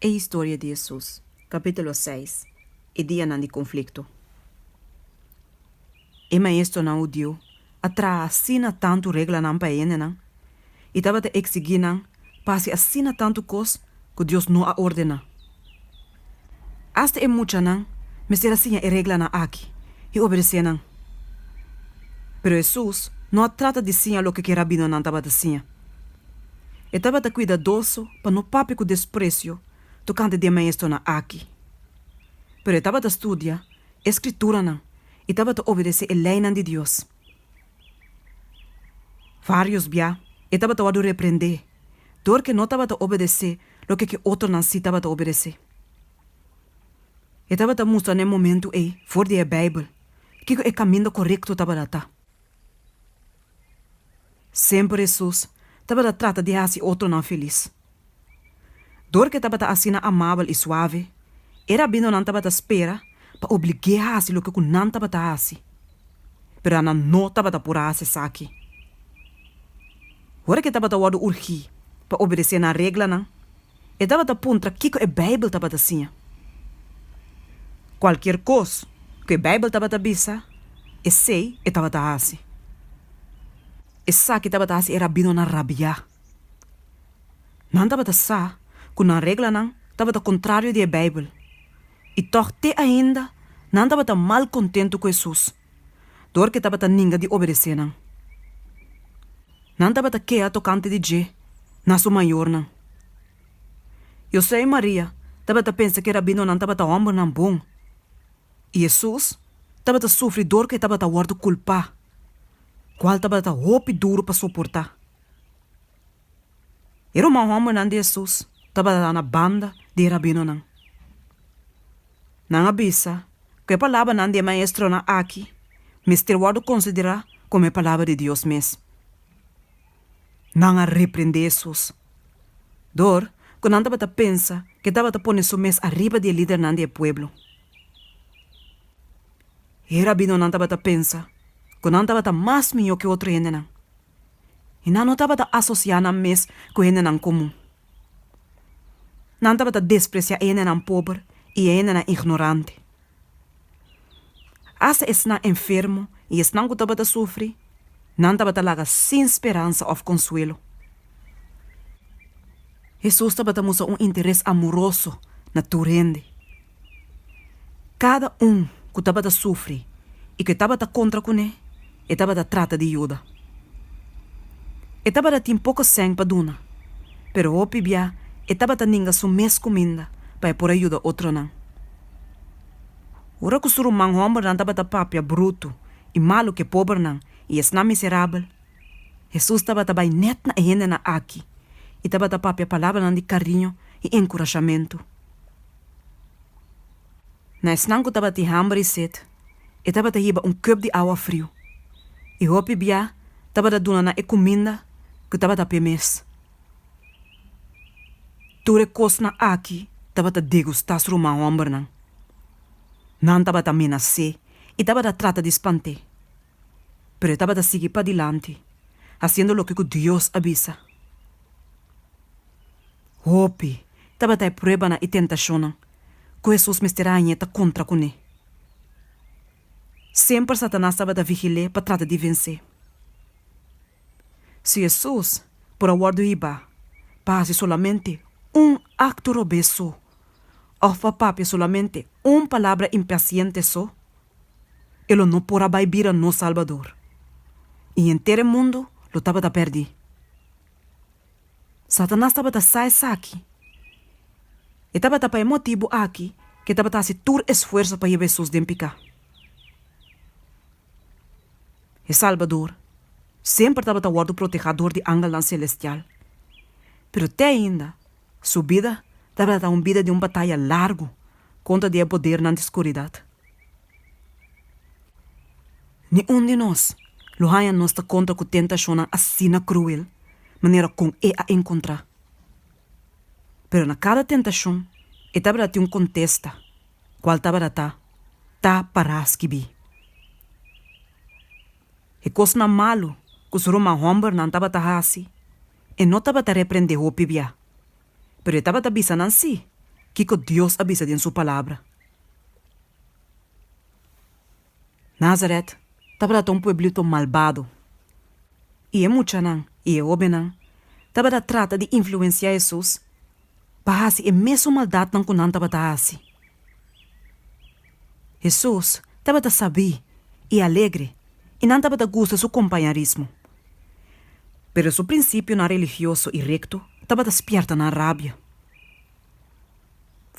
E historia di Hesus, capítulo seis, E dianan di conflicto E maestronan hudiu a traha asina tantu reglanan pa e hendenan i tabata exigí nan pa hasi asina tantu cos cu Dios no a ordena. Asta e muchanan mester a siña e reglanan aki i obedesé nan. Pero Hesus no a trata di siña loke ku e rabinonan tabata siña. E tabata kuidadoso pa no papia ku despresio tokante di e maestronan aki. Pero e tabata studia e Skrituranan i tabata obedesé e leinan di Dios. Vários bia e tabata wòrdu reprendé dor ke no tabata obedesé loke ke otronan sí tabata obedesé. E tabata mustra na e momentu ei for di e Beibel kiko e kaminda korekto tabata ta. Semper Hesus tabata trata di hasi otronan felis. Dor ku e tabata asina amabel i suave, e rabinonan tabata spera pa oblig'é hasi loke ku nan tabata hasi. Pero Ana no tabata por a hasi esaki. Ora ku e tabata wòrdu urgí pa obedesé nan reglanan, e tabata puntra kiko e Beibel tabata siña. Kualkier kos ku e Beibel tabata bisa, esei e tabata hasi. Esaki tabata hasi e rabinonan rabiá. Nan tabata sa ku nan reglanan tabata kontrario di e Beibel, i tòg te ainda nan tabata mal kontentu ku Hesus dor ku e tabata ninga di obedesé nan. Nan tabata kea tokante di dje na su mayornan. José i Maria tabata pensa ku e rabinonan tabata hòmbernan bon, i Hesus tabata sufri dor ku e tabata wòrdu kulpá, kual tabata hopi duru pa soportá. E ruman hombernan di Hesus tabata na banda di e rabinonan. Nan a bisa ku e palabranan di e maestronan aki mester wòrdu konsiderá komo e palabra di Dios mes. Nan a reprendé Hesus dor ku nan tabata pensa ku e tabata pone su mes ariba di e lidernan di e pueblo. E rabinonan tabata pensa ku nan tabata mas mihó ku otro hendenan. i nan no tabata asosiá nan mes ku hendenan komun. Nan tabata despresiá e hendenan pober i e hendenan ignorante. Hasta esnan enfermo i esnan ku tabata sufri, nan tabata laga sin speransa òf konsuelo. Hesus tabata mustra un interes amoroso na tur hende. Kada un ku tabata sufri i ku e tabata kontra kuné, e tabata trata di yuda. E tabata tin poko sèn pa duna, pero hopi bia e tabata ninga su mes kuminda pa e por a yuda otronan. Ora ku su ruman hòmbernan tabata papia brutu i malu ku e pobernan i esnan miserabel, Hesus tabata bai nèt na e hendenan akí i tabata papia palabranan di kariño i enkurashamentu. Na esnan ku tabatin hamber i set, e tabata hiba un kup di awa friu, i hopi bia tabata duna nan e kuminda ku tabata p'e mes. Tur e kosnan akí tabata degustá srumá hòmbernan. Nan tabata menasé i tabata trata di spant'é. pero e tabata sigui padilanti hasiendo loke ku Dios a bisa. Hopi tabata e pruebanan i tentashonnan ku Hesus mester a hañ'é ta kontra kuné. Semper Satanas tabata vigil'é pa trata di vens'é. Si Hesus por a wòrdu hibá pa hasi solamente un akto robes so òf pa papia solamente un palabra impasiente so, E lo no por a bai bira nos Salbador, i henter e mundu lo tabata pèrdí. Satanas tabata sa esaki. E tabata pa e motibu aki ku e tabata hasi tur esfuerso pa yeba Hesus den piká. E Salbador semper tabata wòrdu protehá dor di angelnan selestial, pero te ainda, Su bida tabata un bida di un bataya largu kontra di e podernan di skuridat. Niun di nos lo haña nos ta kontra ku tentashonnan asina kruel manera kon e a enkontrá. Pero na kada tentashon e tabata tin un kontesta, kual tabata ta, Ta pará skibí. E kosnan malu ku su ruman hòmbernan tabata hasi, e no tabata reprendé hopi biá. Pero e tabata bisa nan sí kiko Dios a bisa den su Palabra. Nazaret tabata un pueblito malbado, i e muchanan i e hóbennan tabata trata di influensiá Hesus. pa hasi e mesun maldatnan ku nan tabata hasi. Hesus tabata sabí i alegre i nan tabata gusta su kompañarismo. Pero su prinsipionan religioso i rekto tabata spièrta nan rabia.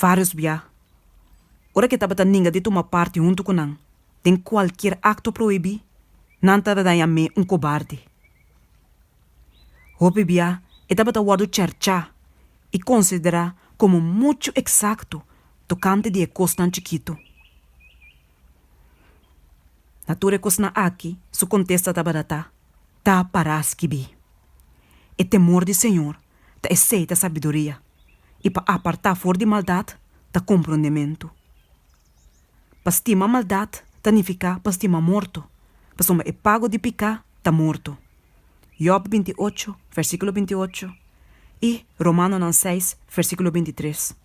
Vários bia, ora ke tabata ninga di tuma parti huntu ku nan den kualkier akto prohibí, nan ta daña amé un kobarde. Hopi bia e tabata wòrdu cherchá i konsiderá komo muchu eksakto tokante di e kosnan chikitu. Na tur e kosnan akí su kontesta tabata ta, Ta pará skibí, E temor di Señor ta esei ta sabiduria, i pa apartá for di maldat ta komprondementu. Pa stima maldat ta nifiká pa stima morto, pasobra e pago di piká ta morto. Jòb binti i ocho, versíkulo binti i ocho, i Romanonan seis, versíkulo binti i tres.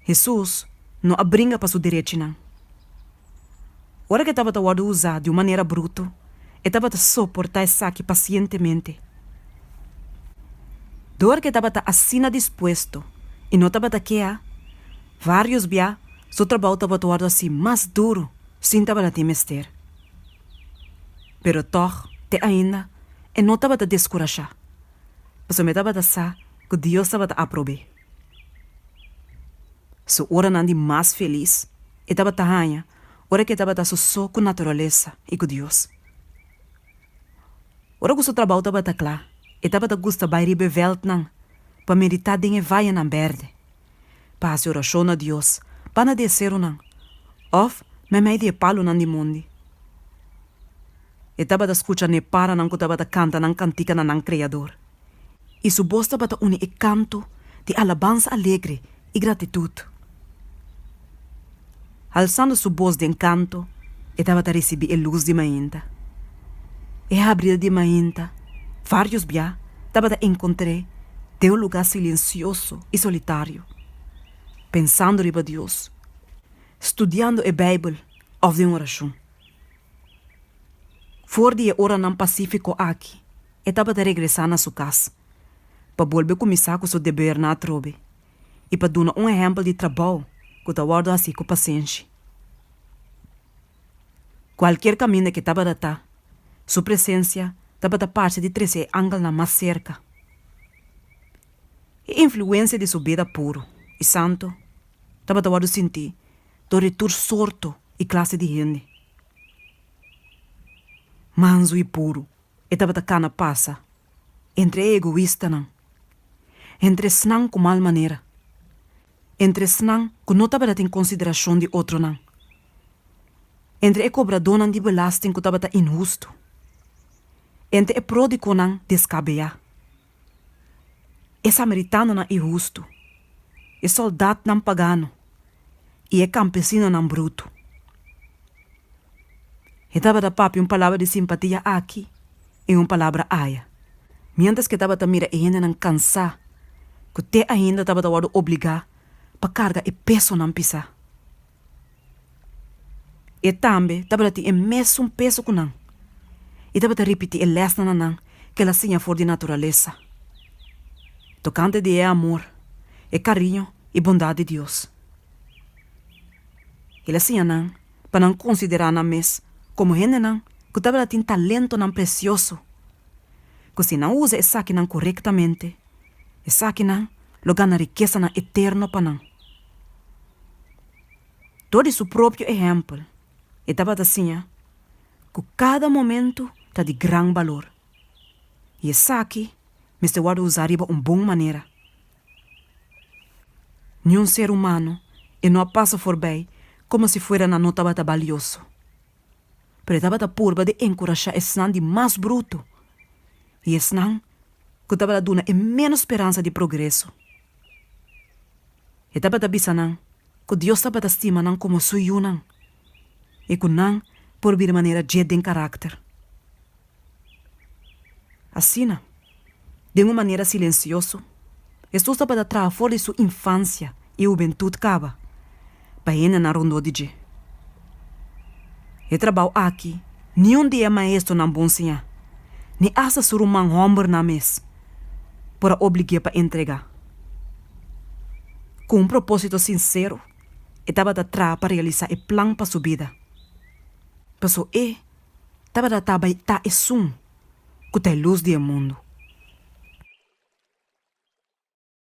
Hesus no a bringa pa su derechinan. Ora ku e tabata wòrdu usá di un manera brutu, e tabata soportá esaki pasientemente. Dor ku e tabata asina dispuesto i no tabata kea, vários bia su trabou tabata wòrdu hasi mas duru sin tabata tin mester. Pero tòg, te ainda e no tabata deskurashá, pasobra e tabata sa ku Dios tabata aprob'é. Su oranan di mas felis e tabata haña ora ku e tabata sosó ku naturalesa i ku Dios. Ora ku su trabou tabata kla, e tabata gusta bai riba e vèltnan pa meditá den e vayanan bèrdè, pa hasi orashon na Dios banda di e serunan òf meimei di e palunan di mondi. E tabata skucha ne'e paranan ku tabata kanta nan kantikanan na nan Kreador. i su bos tabata uni e kanto di alabansa alegre i gratitut. Halsando su bos den kanto, e tabata risibí e lus di mainta. E habrida di mainta, vários bia tabata enkontr'é den un lugá silensioso i solitario, pensando riba Dios, studiando e Beibel òf den orashon. For di e oranan pasífiko aki, E tabata regresá na su kas pa bolbe kuminsá ku su debernan atrobe i pa duna un ehèmpel di trabou ku ta wòrdu hasi ku pasenshi. Kualkier kaminda ke tabata ta, su presensia tabata parse di trese e angelnan mas serka. E influensia di su bida puru i santu tabata wòrdu sinti dor e tur sorto i klase di hende, mansu i puru. E tabata cana pasa entre e egoistanan, entre esnan cu mal manera, entre esnan cu no tabata tin consideracion di otronan, entre e cobradonan di belasting cu tabata inhusto, entre e prodiconan descabea. e samaritanonan i hustu, e soldatnan pagano i e kampesinonan brutu. E tabata papia un palabra di simpatia aki i un palabra aya, miéntras ku e tabata mira e hendenan kansá ku te ainda tabata wòrdu obligá pa karga e pesonan pisá. E tambe tabata tin e mesun peso ku nan i tabata ripití e lèsnan na nan ku el a siña for di naturalesa tokante di e amor, e kariño i bondat di Dios. El a siña nan pa nan konsiderá nan mes komo hendenan ku tabata tin talentonan presioso ku si nan usa esakinan korektamente, esakinan lo gana rikesanan eterno pa nan. Dor di su propio ehèmpel, e tabata siña ku kada momentu ta di gran balor, i esaki mester wòrdu usá riba un bon manera. Niun ser humano e no a pasa forbei komo si fuera nan no tabata balioso. Pero e tabata purba di enkurashá esnan di mas brutu i esnan ku tabata duna e ménos speransa di progreso. E tabata bisa nan ku Dios tabata stima nan komo su yunan i ku nan por bira manera dje den karakter. Asina, den un manera silensioso, Hesus tabata traha for di su infansia i hubentut kaba. pa hendenan rondó di dje. E trabou aki niun di e maestronan bon siñá, ni asta su ruman hòmbernan mes, por a oblig'é pa entregá. Ku un propósito sinsero e tabata traha pa realisá e plan pa su bida. Pasó e tabata ta bai ta esun ku ta e lus di e mundu.